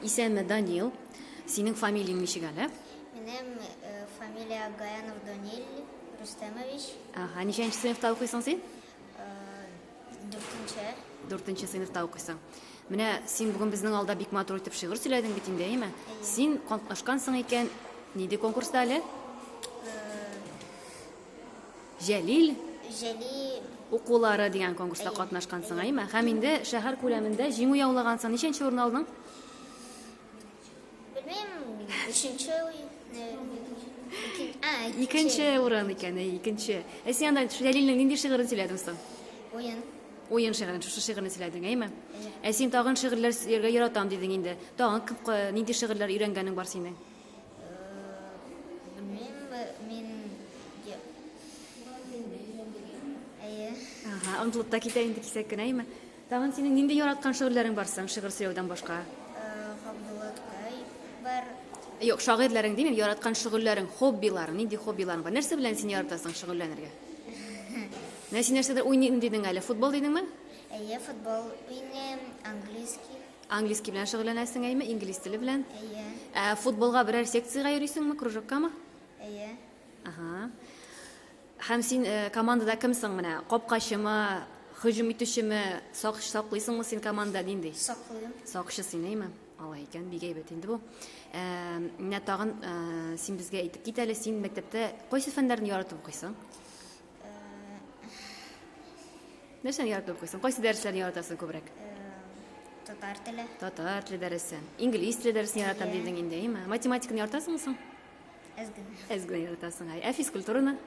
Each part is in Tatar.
Исәме Данил. Синең фамилияң ничек әле? Минем э, фамилия Гаянов Данил Рустемович. Ага, ничәнче сыйныфта укыйсың син? Э, дүртенче. Дүртенче сыйныфта укыйсың. Менә син бүген безнең алда бик матур итеп шигырь сөйләдең бит инде, әйеме? Син катнашкансың икән, нинди конкурста әле? Җәлил. Җәлил. Укулары дигән конкурста катнашкансың, әйме? Һәм инде шәһәр күләмендә җиңү яулагансың. Ничәнче урын алдың? Белмим, өченче Икенче урын икән, әй, икенче. Ә син анда Җәлилнең нинди шигырен сөйләдең соң? Уен. Уен шигырен, шушы шигырен сөйләдең, әйме? Ә син тагын шигырьләр сөйләргә яратам дидең инде. Тагын нинди шигырьләр өйрәнгәнең бар синең? онытылып та китә инде кисәк кенә әйме тагын синең нинди яраткан шигырьләрең бар соң шигырь сөйләүдән башка габдулла тукай бар юк шагыйрьләрең димим яраткан шөгыльләрең хоббиларың нинди хоббиларың бар нәрсә белән син яратасың шөгыльләнергә менә син нәрсәдер уйныйм дидең әле футбол дидеңме әйе футбол уйныйм английский Английский белән шөгыльләнәсең әйме, инглиз теле белән? Әйе. Ә футболга берәр секциягә йөрисеңме, кружоккамы? Әйе. Ага. Һәм син э, командада кемсең менә? Капкачымы, һөҗүм итүчеме, сак саклыйсыңмы син команда нинди? Саклыйм. Сакчы син, әйме? Алай икән, бик әйбәт инде бу. Ә, менә тагын ә, син безгә әйтеп кит әле, син мәктәптә кайсы фәннәрне яратып укыйсың? Нәрсәне яратып укыйсың? Кайсы дәресләрне яратасың күбрәк? Татар теле. Татар теле дәресен. Инглиз теле дәресен яратам Әйе. дидең инде, әйме? Математиканы яратасыңмы соң? Әз генә. Әз генә яратасың. Әй, ә физкультураны?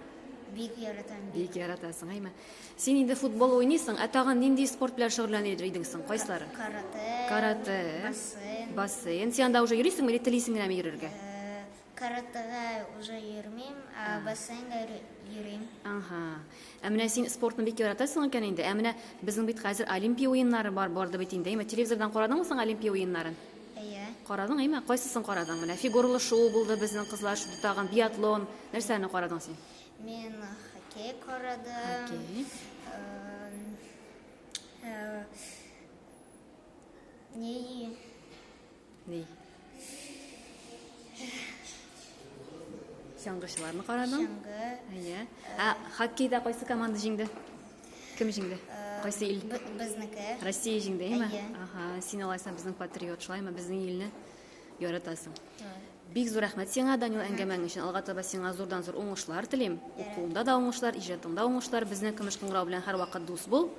Бик яратам. Бик. Бик яратасың, әйме? Син инде футбол уйныйсың, ә тагын нинди спорт белән шөгыльләнер идең соң? Кайсылары? Карате. Карате. Бассейн. Бассейн. Син анда уже йөрисеңме или телисең генәме йөрергә? Э, Каратэга уже йөрмим, ә бассейнга йөрим. Ага. Ә менә син спортны бик яратасың икән инде. Ә менә безнең бит хәзер Олимпия уеннары бар барды бит инде. Әйме, телевизордан карадыңмы соң Олимпия уеннарын? Әйе. Карадың, әйме? Кайсысын карадың? Менә фигуралы шуу булды безнең кызлар шуды тагын биатлон. Нәрсәне карадың син? Мин хоккей карадым. Хоккей. Э, э, не Ни? Чаңгычыларны карадың? Чаңгы. Әйе. Ә хоккейда кайсы команда җиңде? Кем җиңде? Кайсы ил? Безнеке. Россия җиңде, әйме? Әйе. Ага, син алайсаң безнең патриот, шулаймы? Безнең илне яратасың. Бик зур рәхмәт сиңа, Данил, әңгәмәң өчен. Алга таба сиңа зурдан-зур уңышлар телим. Укуыңда да уңышлар, иҗатыңда уңышлар. Безнең көмеш кыңгырау белән һәрвакыт дус бул.